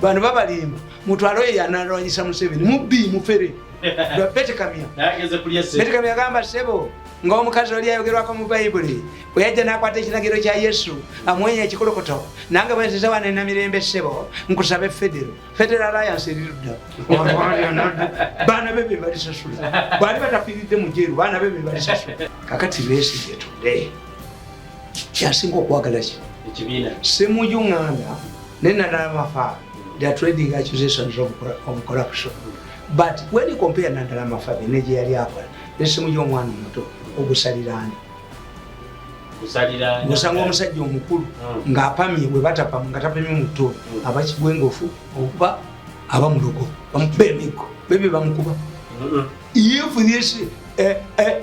bano babalimba mutwale oyo yanalwanyisa museveni mubbi mufere betekamya betekamya agamba sebo nga omukazi oli ayogerwako mu bayibuli bwe yajja n'akwata ekiragiro kya yesu amwenya ekikulukuto nange bwenziza wano ena mirembe sebo nkusabe federo federo alliance erirudda baana be be balisasula bwali batafiiridde mu jeru baana be be balisasula kakati besigye tude kyasinga okwagala ki ekibiina simuju nganda ne nadala mafa they are trading accusations of, of corruption but when you compare nadala mafa ne gye yali akola ne simuju omwana omuto ogusaliraani osanga omusajja omukulu hmm. ng'apamye bwe batapamu nga tapamye mu tto hmm. aba kigwengofu oba aba mulogo bamukuba emiggo bebe bamukuba hmm. if this eh, eh,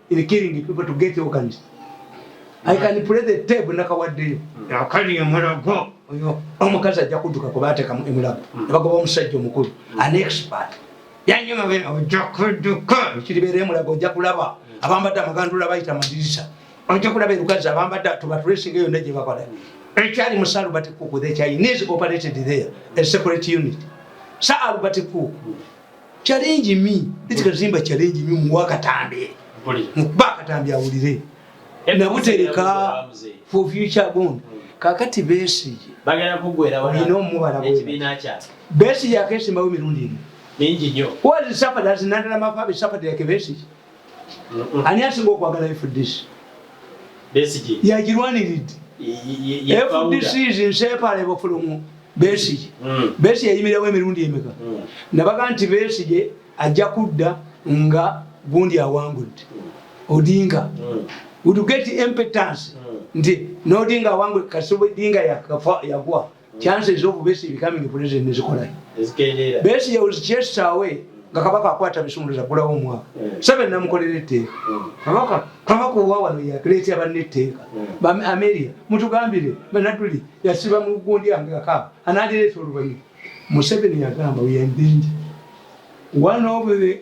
is killing people to get organs i can play the tape nakawaddeyo akali emulago oyo omukazi ajja kuduka kuba atekamu emulago hmm. nebagoba omusajja omukulu hmm. an expert yanyuma be ojja kuduka ekiribeera emulago ojja kulaba hmm. abambadde amagandula bayita madirisa ojja kulaba erukazi abambadde tubatresinga yonna gye bakola ekyali mu salubati kuku the chinese operated there a separate unit sa alubati kuku challenge me eti kazimba challenge me muwa katambi mukuba katambi awulire nabutereka for future bond hmm. kakati besige bagala kugwera wala ino mubala ekibina kya besige akesimbawo mirundi ino mingi nyo what is suffered as nandala mafabi suffered like besige ani asinga okwagala fdc yagirwaniridde fdc is inseparable from besige hmm. besige yayimirawo emirundi emeka hmm. nabaga nti besige ajja kudda nga gundi awangudde odinga hmm. would get impotence nti nodinga awangudde kasubudinga yagwa chances of besi becoming president nezikola ezikendeera besi was chased away nga kabaka akwata bisumuluzo agulawo omwaka hmm. sebe namukolera etteeka hmm. kabaka kabaka owa wano yakuleetera banna etteeka hmm. ameria mutugambire banaduli yasiba mu gundi yange kakaba anadireeta oluvannyuma museveni yagamba weyaendenje one of the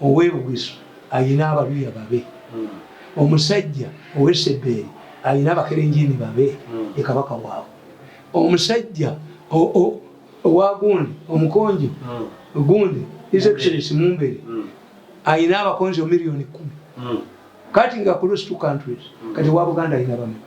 Owe Bugisu alina abaluya babe. Omusajja owe Sebbeeri alina abakerenjeene babe, ye Kabaka waabwe. Omusajja owa Gundi, Omukonjo Gundi, His Excellency Mumbere, alina abakonjo million kumi. Cutting across two countries, kati owa Buganda alina bameka?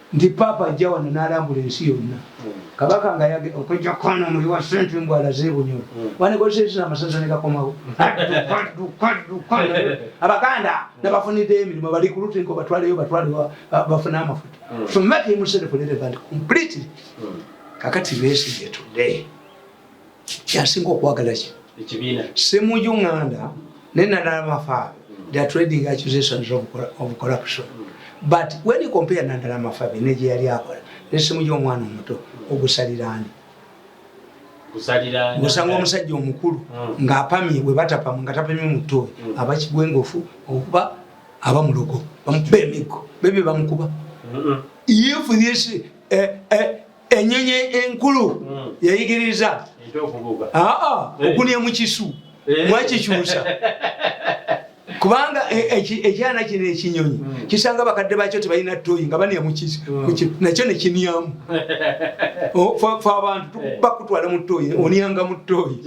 nti Paapa ajja wano n'alambula ensi yonna Kabaka nga yage okujja kwana omuli wa ssente mbu alaze ebunyolo wanekozesa ekisa amasaza ne gakomawo abaganda nabafuniddeyo emirimu bali ku lutinko batwaleyo batwale bafune amafuta so make himself relevant completely kakati besigye today kyasinga okwagala ki ekibiina semuju nganda ne nadala mafabi they are trading accusations of, of corruption but when you compare nadala mafabi ne gye yali akola ne semuju omwana omuto ogusalirani osanga omusajja omukulu hmm. ng'apamye bwe batapamwe nga tapamye mu ttooyi hmm. aba kigwengofu okuba aba mulogo bamukuba emiggo bebe bamukuba if this eh, eh, enyenye enkulu hmm. yayigiriza okunia mukisu eh. mwakikyusa kubanga e, e, ekyana kino ekinyonyi hmm. kisanga bakadde bakyo tebalina toyi nga bania mukisu hmm. nakyo nekiniamu fe abantu eh. bakutwala mu toyi onianga mu toyi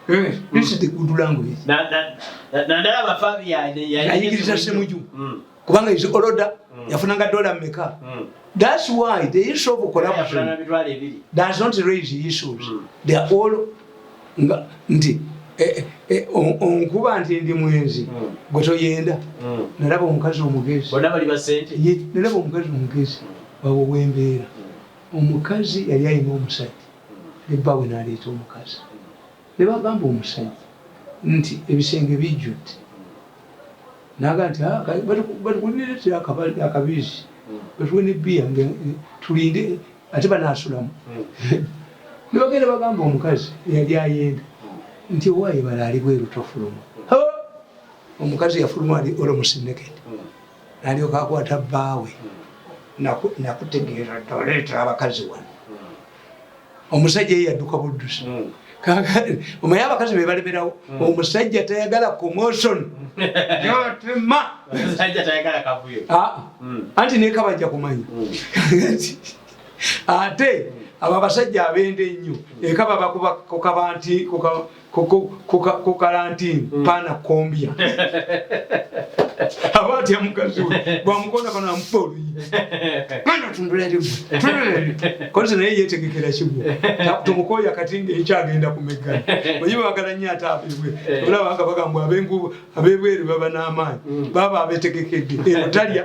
eh, this is the good language nandala bafabiyaneyayigiriza semuju kubanga is oloda mm. yafunanga dola meka mm. thats why the issue of corruption does not raise issues mm. they are all nga nti eh, eh, onkuba nti ndi mwenzi gwe toyenda nalaba omukazi omugezi nalaba omukazi omugezi wawo wembeera omukazi yali alina omusajja nebbawe naleeta omukazi Ne bagamba omusajja nti, Ebisenge bijjudde. N'agamba nti, Ha, ka, batukuleetere akabali, akabizzi, batuwe ne bbiya, nga, tulinde, ate banaasulamu. Ne bagenda bagamba omukazi eyali ayenda nti, Owaaye bala ali bweru, tofuluma. Ha! Omukazi yafuluma ali almost naked. N'alyoka akwata bbaawe, Naku, nakutegeeza dda, oleetera abakazi wano. omusajja ye yadduka buddusi hmm. omaye abakazi bebalemerawo hmm. omusajja tayagala commotion yotema omusajja tayagala kavuyo ah, ah. hmm. anti nekabajja kumanya ate abo abasajja abende ennyo ekaba bakuba kukaba nti ku kalantini mm. paana kombya aba atya mukazi we bwamukonda kano amufa oluyi mwana tundulerimu kozi naye yetegekera kimu tumukoya kati ngaekyagenda kumeggana oye bagala nyo ate abebwe eh. olaba nga bagambwa abebweru baba n'amaanyi mm. baba abetegekedde eno talya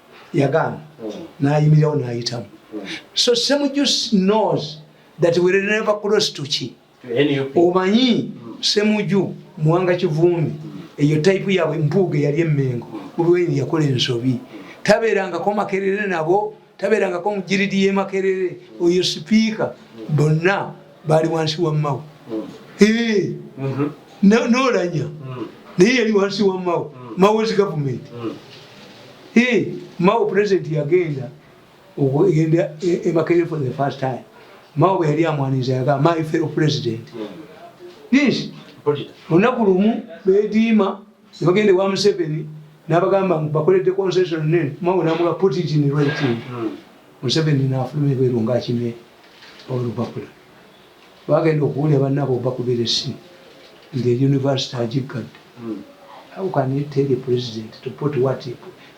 yagaana nayimirirawo nayitamu so semujusi knows that we will never cross to ki omanyi semuju muwanga kivumbi eyo type yabwe mpuuga eyali emengo ulweni yakola ensobi tabeerangako makerere nabo tabeerangako mujiridi yemakerere oyo sipiika bonna baali wansi wa mawo mm-hmm. nolanya mm. naye yali wansi wa mawo mm. mawo is government mm. mawo president yagenda okugenda e, e makerere for the first time mawo bwe yali amwaniza yaga my fellow president this olunaku lumu bediima nebagenda ewa museveni nabagamba bakoledde concession nene mawo namuga put it in writing museveni nafuluma ebweru ngaakimee olupapula bagenda okuwulira bannaabwe obakubira essimu ng'eyunivasite agiggadde hmm. how can you tell a president to put what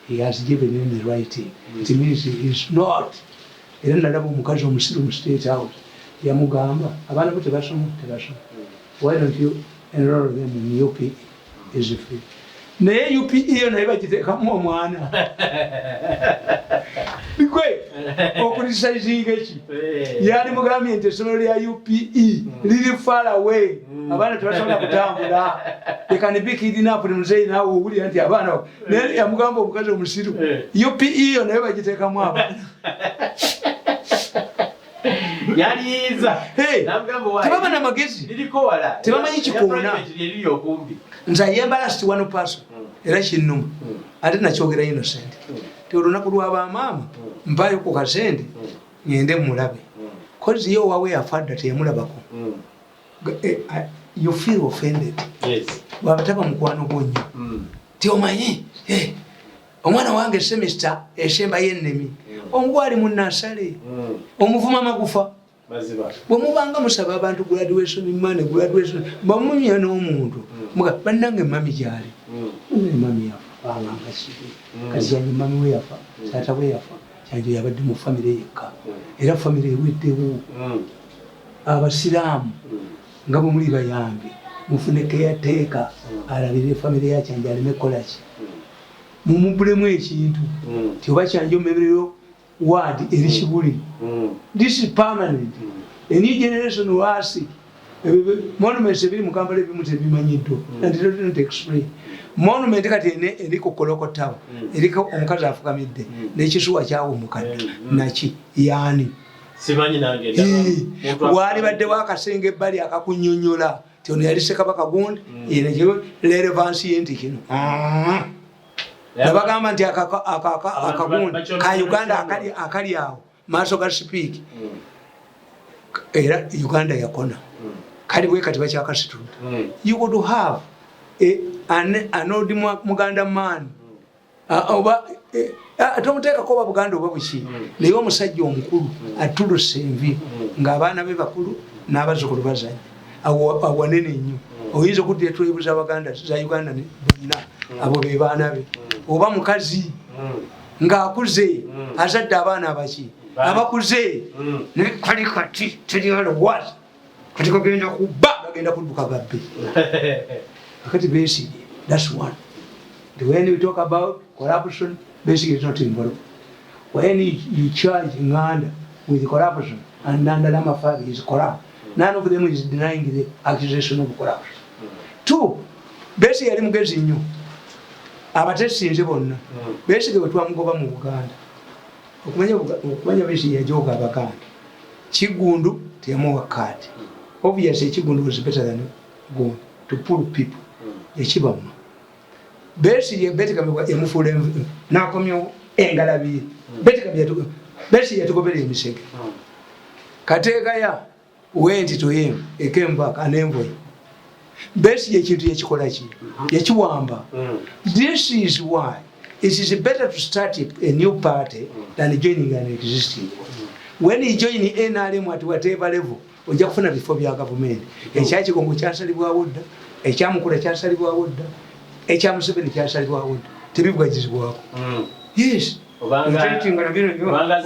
he has given in the writing hmm. it means he is not era nalaba omukazi omusiru mu state house yamugamba abaana bo tebasoma tebasoma hmm. why don't you enroll them in up is free naye UPE naye bagitekamu omwana bigwe okulisaizinga eki eh. yali mugambye nti essomero lya UPE hmm. liri farawe hmm. abaana tebasobola kutambula ekanibikidinapuli muzeyi nawe owulira nti abaana naye yamugamba omukazi omusiru eh. UPE yo naye bagitekamu abaana yaliyiza tebaba na magezi tebamanyi kikoona nze ayembala sti wano paso hmm. era kinnuma hmm. ate nakyogera innocent hmm. ti olunaku lwa bamaama mpayo ku kasente ngende mulabe kozi ye owawe yafadda teyamulabako eh, eh, you feel offended bwabataba mukwano gwo nnyo ti omanyi eh, omwana wange semesta esemba yenemi omugwali munasale hmm. omuvuma magufa bwemubanga musaba abantu graduation man graduation bamunya n'omuntu hmm. banange mami gyali hmm. mami yafa bangangasibe kazange mami we yafa taata we yafa kyanjo yabadde mu famire yekka era famire eweddewo abasiraamu nga bwemuli bayange mufune keyateeka alabirire famire yakyanjo aleme kolaki mumubbulemu ekintu nti oba kya njomerero ward eri kibuli this is permanent a new generation will ask monuments ebiri mu kampala ebimu tebimanyiddwa not explain monument kati ene eri ku koloko tower eriko omukazi afukamidde nekisuwa kyawumukadda naki yaani simanyi nange ndaba wali badde wakasenge bali akakunyonyola nti ono yali sekabaka gundi mm. leero bansiye nti kino mm. nabagamba nti akagundi ka uganda akali awo maaso ga sipiiki mm. era uganda yakona kali bwe kati bakyakasitunda you would have an old muganda man ah, oba eh, ah, tomuteekako oba buganda oba buki hmm. naye omusajja omukulu hmm. atuluse envi hmm. ng'abaana be bakulu n'abazukulu bazanya awanene nnyo oyinza okuddira twebuza abaganda za uganda bonna abo be baana be oba mukazi ng'akuze azadde abaana abaki abakuze naye kali kati teri alowooza kati kagenda kuba bagenda kudduka gabbe akati besige thats one the when we talk about corruption besige is not involved when you charge nganda with corruption and nandala mafabi is corrupt none of them is denying the accusation of corruption two besige yali mugezi nnyo abatesinze bonna besige wetwamugoba mu buganda okumanya okumanya bisi yajoga abaganda kigundu teyamuwa card obviously kigundu was better than gun to pull people yakibamu besi ye beti kamwe yamufule nakomyo engalabi beti kamwe yatu besi yatugobele emisege kateka ya went to him he came back an envoy besi yekintu yekikola ki yekiwamba this is why it is better to start a new party than joining an existing when you join nrm at whatever level ojja kufuna bifo bya gavumenti ekyakigongo kyasalibwawo dda ekyamukula kyasalibwawo dda ekyamuseveni kyasalibwawo dda tebibwagizibwako yes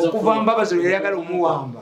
okuva mbabazi lweyayagala omuwamba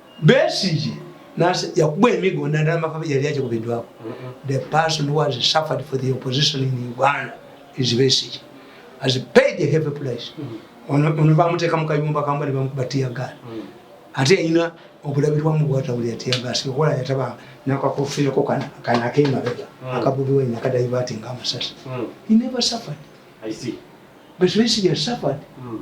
Besigye nase yakuba emigo nadala makabe yali aje kubidwako. The person who has suffered for the opposition in Uganda is Besigye. Has paid a heavy price. Ono ono bamuteka mu kayumba kamba ne bamukuba tear gas. Mm. Ate yina okulabirwa mu bwata buli tear gas okola yataba nakakofira ko kana kana kema bega. Mm. Akabubi we nakada ibati ngama sasa. Mm. He never suffered. I see. But Besigye suffered. Mm.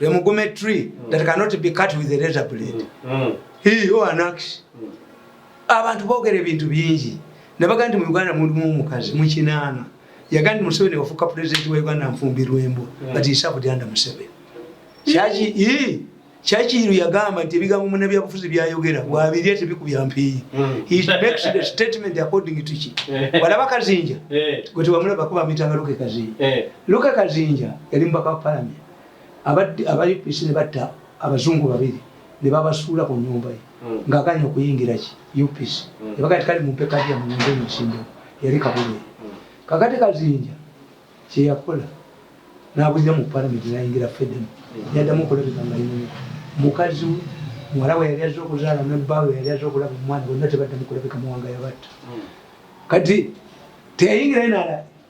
a mugume tree mm. that cannot be cut with a razor blade mm. he or an axe mm. abantu bogera ebintu bingi nabaga nti mu uganda mulimu omukazi mukinaana yaga nti museveni wafuuka pulezidenti wa uganda nfumbirwembo mm. but isabudyanda museveni kyaki i kyakiiru yagamba nti ebigambo munabyabufuzi byayogera wabirya tebikubya mpiiyi walaba kazinja eh. gwe tewamulaba kuba mitanga luke kazinja eh. luke kazinja yali mubaka wa palamenti abadde abayupisi ne batta abazungu babiri ne babasuula ku nyumba ye hmm. ng'agaanye okuyingira ki upisi hmm. ne bagati kali mu mpeka gya muyinza emisinde yali kabulire hmm. kakati kazinja kye yakola n'abulira mu palamenti n'ayingira fedemu yaddamu okulabika nga yina mukazi we muwala we yali azze okuzaala ne bba we yali azze okulaba omwana bonna tebaddamu kulabika muwanga yabatta kati teyayingira ye nala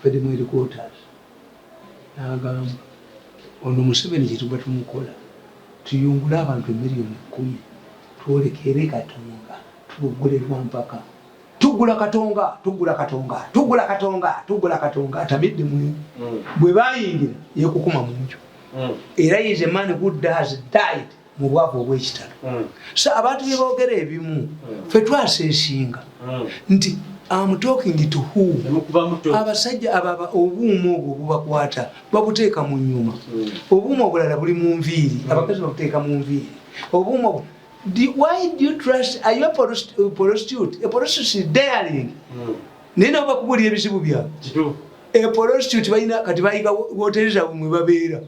Abadde mu headquarters n'agamba ono Museveni kye tuba tumukola tuyungule abantu emiliyoni kkumi twolekere Katonga tuboggole lwa mpaka. Tuggula Katonga, tuggula Katonga, tuggula Katonga, tuggula Katonga atamidde mu mm. bwe bayingira yeekukuma mu nju mm. era is a man who does died mu bwavu obw'ekitalo hmm. so abantu bye boogera ebimu hmm. fe twasa ensinga hmm. nti amutokingi tuhu abasajja ababa obuuma obwo bubakwata babuteeka mu nyuma obuuma obulala buli mu nviiri abakazi babuteeka mu nviiri obuuma why do you trust are you a prostitute a prostitute daring naye nabo bakubuulira ebizibu byabwe a prostitute balina kati bayiga wotereza mwe babeera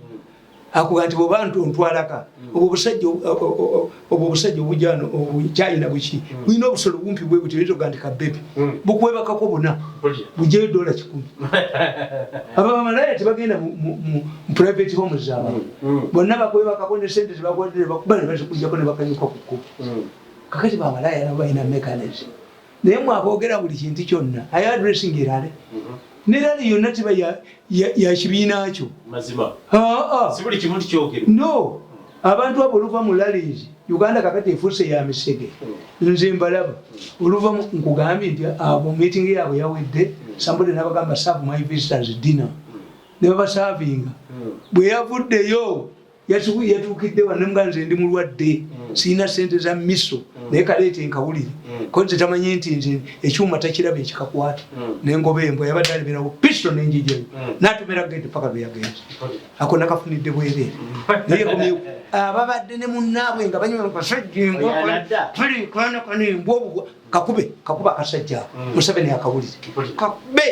akuga nti bwoba nti ontwalaka mm. obwo obusajja obwo obusajja obujano obukyayina buki mm. bulina obusolo bumpi bwe buti bitoga nti kabebi mm. bukwebakako buna bujeyo dola kikumi aba bamalaya tebagenda mu private home zaba bonna bakwebakako ne sente tebakwadire bakuba ne bazikujjako ne bakanyuka ku kkubo kakati bamalaya nabo balina mechanism naye mwe aboogera buli kintu kyonna aye addressing erale mhm. ne rale yonna teba ya kibiina kyo no abantu abo oluva mu lalees uganda kakati efuuse ya misege mm. nze mbalaba mm. oluva nkugambye nti abo meeting yaabwe yawedde mm. sambode nabagamba serve my visitors dinner ne babasavinga bwe yavuddeyo yasibu yatuukidde wano nemuga nze ndi mulwadde mm. sirina sente za miso mm. naye kaleeta enkawulire mm. ko nze tamanyi nti nze ekyuma takiraba ekikakwata nengoba embwa yabadde aliberawo pisto nenjijayo natomera gende paka lweyagenze ako nakafunidde bwereere naye komye ababadde ne munnaabwe nga banywa kasajja embwa kali kwanakana embwa obugwa kakube kakuba akasajja museveni akawulire kakube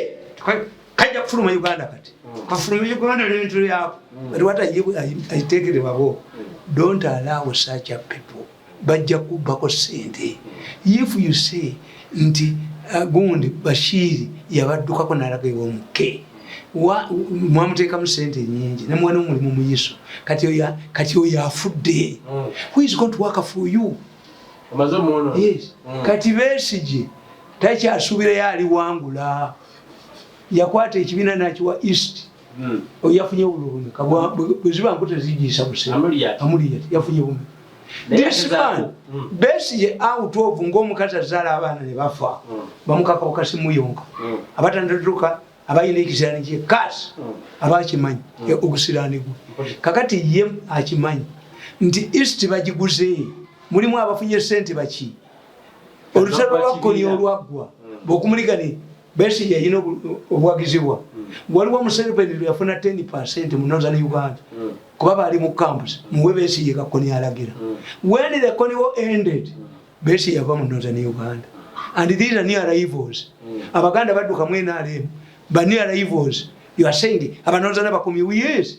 kajja kufuluma uganda kati mm. kafuluma uganda nebintu byako mm. kati wata aitekere babo don't allow such a people bajja kubbako sente if you say nti uh, gundi bashiri yabaddukako nalaga ewomuke mwamuteekamu sente nyingi nemwana omulimu muyiso kati oyo afudde mm. who is going to work for you yes. kati besigi takyasuubirayo aliwangula yakwata ekibiina nakiwa east hmm. oyafunye obulumi bweziba nku tezijiisa buseamuliyat yafunye bumi disman hmm. besiye out of ngaomukazi azaala abaana nebafa hmm. bamukaka okasimuyonka abatandatuka abalina ekisirani kye kas aba akimanyi e, ogusirani gwe kakati ye akimanyi nti east bagiguze mulimu abafunye sente baki olutalo lwakkoni olwaggwa bwokumuligani besi yayina obuwagizibwa waliwo museveni lweyafuna 10 percent mu northern uganda kuba baali mu camps muwe besi ye kakkoni alagira when the koni war ended besi yava mu northern uganda and these are new arrivals abaganda badduka mu nrm ba new arrivals you are saying abanorthern bakumiwe yes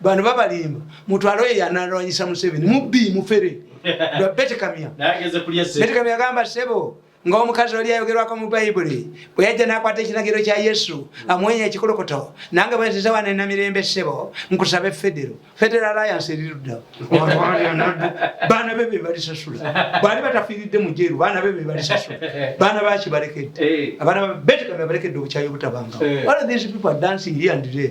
bano babalimba mutwalo ye yanalwanyisa museveni mubbi mufere betekamya betekamya agamba sebo ngaomukazi oli ayogerwako mu bayibuli bwe yajja nakwata ekiragiro kya yesu amwenya ekikulukuto nange bwenziza wano enamirembe sebo nkusaba efedero federo alliance erirudda baana be bebalisasula bwali batafiiridde mujeru baana be bebalisasula baana baki balekedde eh. abaana betekamya balekedde obukyayi obutabangawo eh. all these people are dancing here and there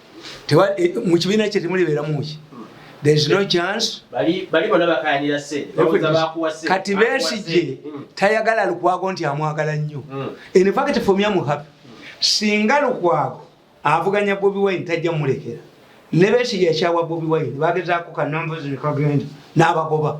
mu kibiina kye temulibeeramuki kati besigye hmm. tayagala lukwago nti amwagala nnyo hmm. infact fomyamuhapi singa lukwago avuganya bobi wine tajja mulekera ne besigye yakyawa bobi wine bagezaako kanambuzi nekagenda n'abagoba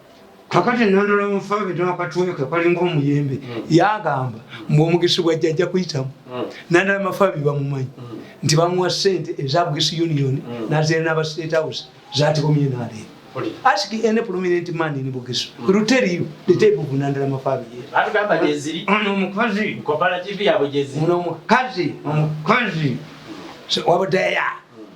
kakati nandula mufabe nakatwe kekalinga omuyembe hmm. yagamba mbu omugisi gwa jjajja kuyitamu hmm. nandala mafabi bamumanyi hmm. nti bamuwa sente eza bugisi union nazera naba state house zatikomye nalero ask any prominent man in bugisu will tell you the type of nandala mafabi atugamba jeziri ono omukazi kopala tv yabo jeziri ono omukazi omukazi wabadaya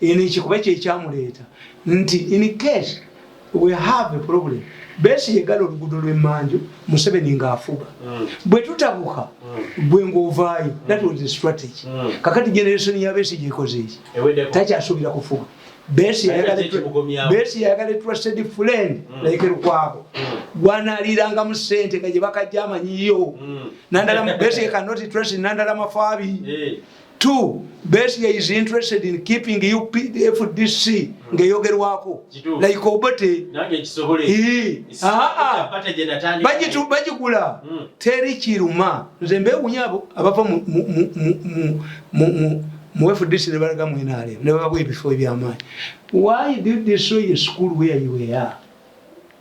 Eno ekikuba kyekyamuleeta nti in case we have a problem besi yegala olugudo lwemmanju museveni ng'afuga mm. bwe tutabuka mm. gwe ng'ovaayo mm. that was the strategy kakati generation ya besi gyekoze eki takyasuubira kufuga besi yayagala etrusted friend like lukwabo gwanaliirangamu sente nga gye bakajja amanyiyo nandala besi cannot trust nandala mafaabi eh. Two, Besigye is interested in keeping UPFDC ngeyogerwako like Obote bagigula hmm. teri kiruma nze mbewunya abo abava mu FDC ne balaga mu NRM ne babawa ebifo ebyamaanyi why did they show a school where you were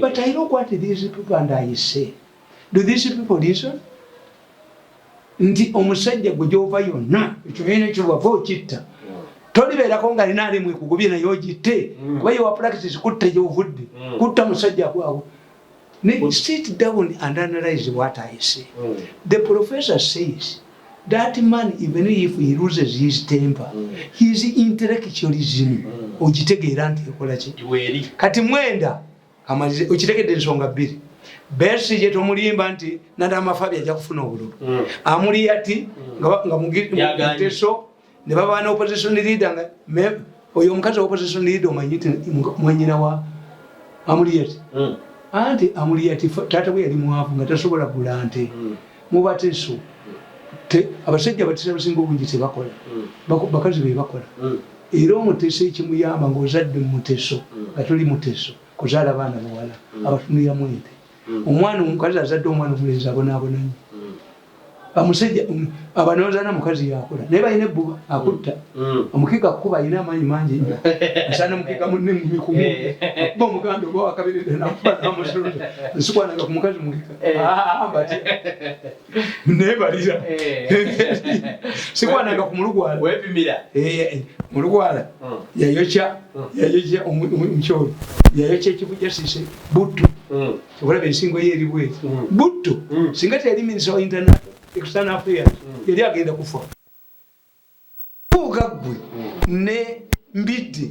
But I look what these people and I say. Do these people listen? Nti omusajja gwe gyova yonna ekibiina ekyo wava okitta tolibeerako nga lina alimu ekugubye naye ogitte mm. kuba yewa practice kutta gyovudde mm. kutta musajja gwawo sit down and analyze what I say. Mm. The professor says That man even if he loses his temper mm. his intellectualism mm. ogitegeera nti ekola ki kati mwenda amalize okitegedde ensonga bbiri besi gye tomulimba nti nada amafabi ajja kufuna obululu mm. amuli yati mm. nga muteso ne baba na opposition leader nga oyo omukazi opposition leader omanyi ti mwanyina wa amuliyati hmm. anti amuliyati taata we yali mwavu nga tasobola gula nte hmm. mubateso abasajja abatesa abasinga obungi tebakola hmm. bakazi be bakola era omuteso ekimuyamba ngaozadde muteso nga tuli muteso kuzaala baana bawala abatunuliramu ente hmm. omwana omukazi azadde omwana omulenzi abonaabona nyo hmm. amusajja um, abanozana mukazi yakola naye balina ebbuba akutta hmm. omukiga kukuba alina amaanyi mangi nyo asaana mukiga munne mumikumu eh. akuba omuganda oba wakabiride nakuba namusuluza nsikwanaga ku mukazi mukiga eh. ah, ah, ah, nebalira sikwananga ku mulugwala mulugwala yayokya yayokya omukyolo yayokya ekivu jasise butto okulaba ensingo ye eri bwezi butto singa teyali minisa wa internet extern affairs yali agenda kufa kuuka ggwe ne mbidde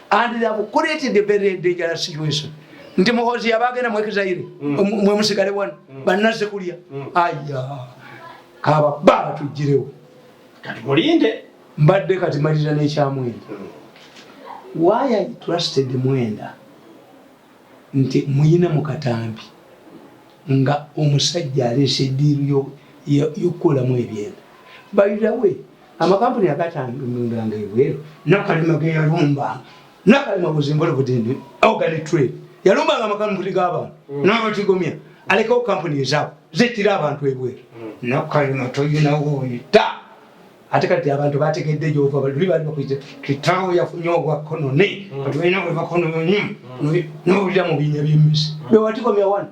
and they have created a very dangerous situation nti muhozi yaba agenda mwekizaire mm. um, mwe musigale wano mm. bannaze kulya mm. aya kaba baba tujjirewo kati mulinde mbadde kati malira n'ekyamwenda why i trusted mwenda nti muyina mu katambi nga omusajja aleese ediiru y'okukolamu ebyenda by the way amakampuni agatandundanga ebweru nakalema geyalumbanga nakalema buzimbole budini organic trade yalumbanga amakampuni gabantu mm. nabatigomya alekawo kampuni ezaabo zetira abantu ebweru mm. nakalema toyinawoyita ate kati abantu bategedde gyova baluli bali bakuize kitawo yafunye obwakonone mm. kati balina bwebakononyi nowulira mu binya byemisi bewatigomya wano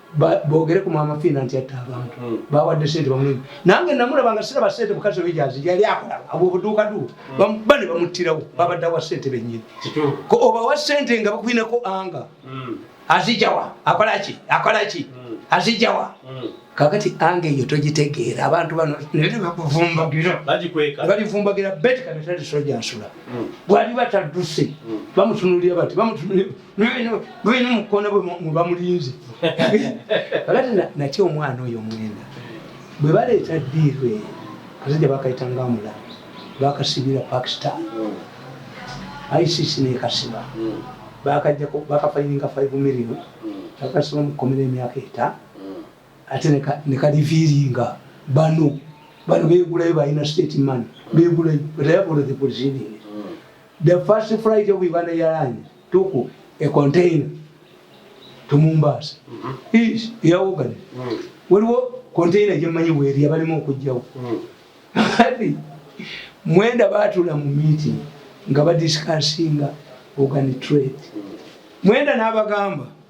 bogere ku mama fina nti atta abantu hmm. bawadde sente bamulimi nange namulaba nga siraba sente mukazi oyo gyazi yali akola abo obuduuka du hmm. bane bamuttirawo babadde awa sente bennyini obawa sente nga bakuinako anga hmm. azijawa akolaki akolaki azijawa kakati anga eyo togitegeera abantu bano nebakuvumbagirbalivumbagirabetikanatalesojasula bwali bataduse bamutunulira bati nolina mukono bwe mubamulinze kakati naki omwana oyo omwenda bwe baleeta diiru eyo kazija bakayita nga mula bakasibira pakistan hmm. icc nekasiba hmm. bakajjako bakafayininga five million hmm. bakasiba mukomera emyaka eta ate nekaliviiringa bano bano begulayo balina state man begulayo but i have already proceeding The first flight of Uganda Airlines took a container to Mombasa. Mm -hmm. Is ya Uganda. Mm -hmm. Waliwo container je manyi weri abalimu okujjawo. Mm -hmm. Hadi mwenda batula mu meeting nga ba discussinga organ trade. Mm -hmm. Mwenda nabagamba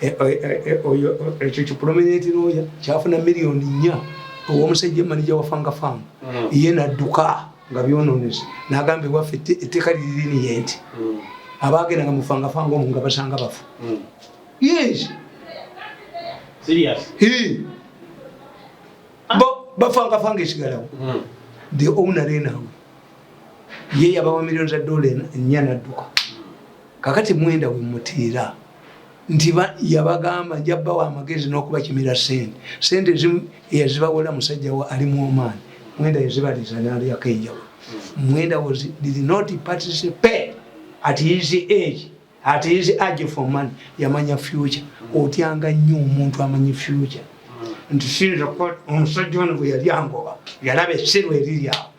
Eh, eh, eh, ekyo kipulominenti looya kyafuna miliyoni nnya owomusajja manija wa fanga faamu mm. ye nadduka nga byononese nagamba ewaffe etteeka liriniye nti mm. abaagenda nga mufanga fanga omu nga basanga bafu mm. yes ah. bafanga fanga esigalawo the owner enawe ye yabawa miliyoni za dola nnya nadduka kakati mwenda wemutiira nti yabagamba nja bawa amagezi n'okubakimira sente sente ezimu eyazibawola musajja wa alimu omaani mwenda yazibaliza nalyako enjawulo mwenda was did not participate at his age at his age for money yamanya future otyanga nnyo omuntu amanyi future nti sinza kuba omusajja ono bwe yali angoba yalaba essirwa eriri awo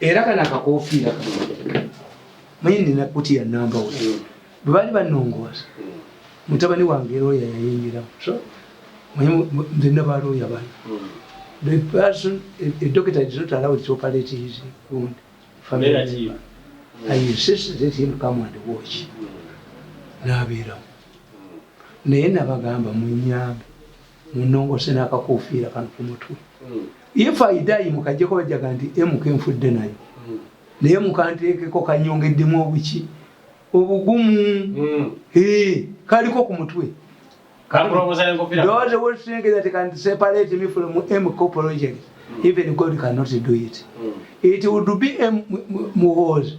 era kana akakofiira manye nina kuti ya namba we mm. bwe baali banongooza mm. mutabani wange looya yayingiramu nze naba looya bana mm. the person a doctor is not allowed to operate his wound family member i insist that him come and watch naabeeramu naye nabagamba munyambe munongose nakakufiira kano ku mutwe hmm. if i die mukajjeko bajjaga nti mk nfudde nayo hmm. naye mukanteekeko kanyongeddemu obuki obugumu hmm. kaliko ku mutwe even god cannot do it it would be muhoozi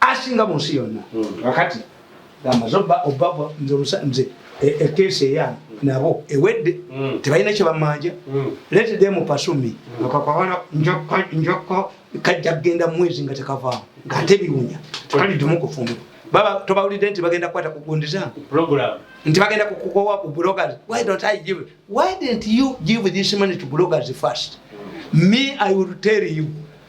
asinga mu nsi yonna hmm. kakati gamba zoba oba nze omusanze ekeesi e, eyange hmm. nabo ewedde hmm. tebalina kyebamanja lete de mupasumi kakakwana njoko kajja kugenda mwezi nga tekavaamu ngaate biwunya kali dumu kufumba baba tobawulidde nti bagenda kukwata kugundiza nti bagenda kukukowa ku bloggers why don't i give why didn't you give this money to bloggers first me i will tell you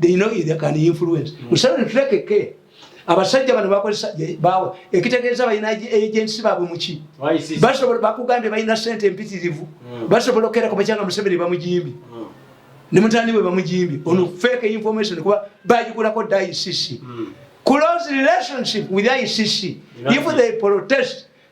they know they can influence mm. so to take care abasajja bano bakozesa bawa ekitegeeza balina agensi baabwe muki basobola bakugambye balina sente empitirivu mm. basobola okukeera kubakyanga museveni bamujimbi mm. ne mutani we bamujimbi ono mm. fake information kuba bagigulako dda icc close relationship with icc if they protest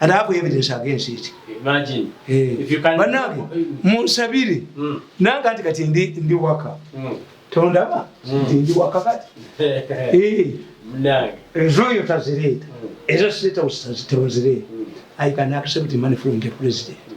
And I have evidence against it. Imagine. Hey. Eh. If you can... Banange, munsabire. Mm. Nanga ati kati ndi, ndi waka. Mm. Tondaba? Mm. Ndi waka kati. hey. Eh. Mnange. Enjoy your tazireta. Mm. Ezo sita usazita uzireta. Mm. I can accept money from the president. Mm.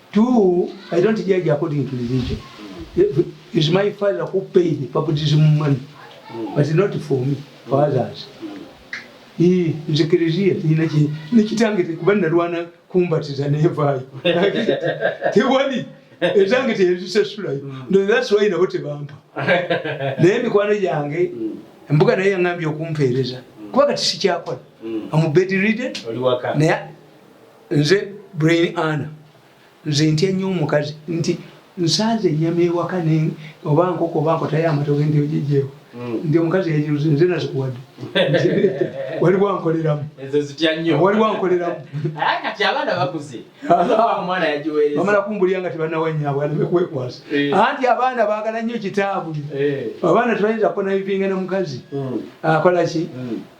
Two, I don't judge according to religion. Is my father who paid the baptism money, but not for me, for others. nze kereziya ina nekitange tekuba nalwana kumbatiza nevaayo tewali ezange teyezisasulayo mm. ndothaswayi nabo tebampa naye emikwano gyange mm. embuga naye yaŋambye okumpeereza mm. kuba kati sikyakola amubedriden naye nze brain ana nze ntya nnyo omukazi nti nsanze enyama ewaka oba nkoko oba nkotayo amatoke nti ogijeewo hmm. nti omukazi yajiruze nze nazikuwadde waliwo ankoleramu waliwo ankoleramu bamala kumbulira nga tebanawanyabwe aleme kwekwasa eh. anti abaana bagala nnyo kitaabwe eh. abaana tebayinza kukonayivinga na mukazi hmm. akolaki hmm.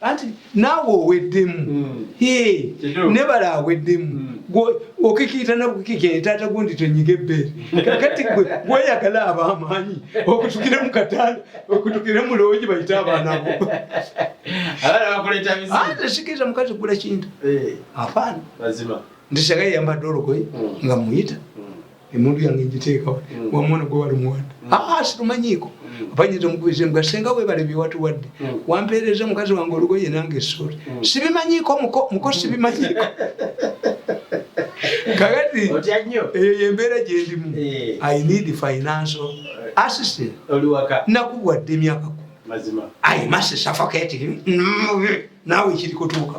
anti naawe oweddemu hmm. nebala aweddemu hmm. okikiyita nakukikira taata gundi tonyiga ebbeere kakati gwe gweyagala abaamaanyi okutukire mu kataala okutukire mu loogi bayite abaana bo ate sikiriza mukazi gula kintu eh. afaana nti sagaye yambadde olugoye hmm. nga muyita emundu yange njiteeka wa mm. wamwana gwe wali muwadde mm. aa ah, sirumanyiiko mm. apanyita omukubize mbwa senga webale byewatuwadde wampeereza mukazi wange olugoye nange essuuli sibimanyiiko muko muko sibimanyiiko kakati eyo yembeera gyendimu eh. i need financial assistant nakubwadde emyaka ku mazima i must suffocate him nawe kirikutuuka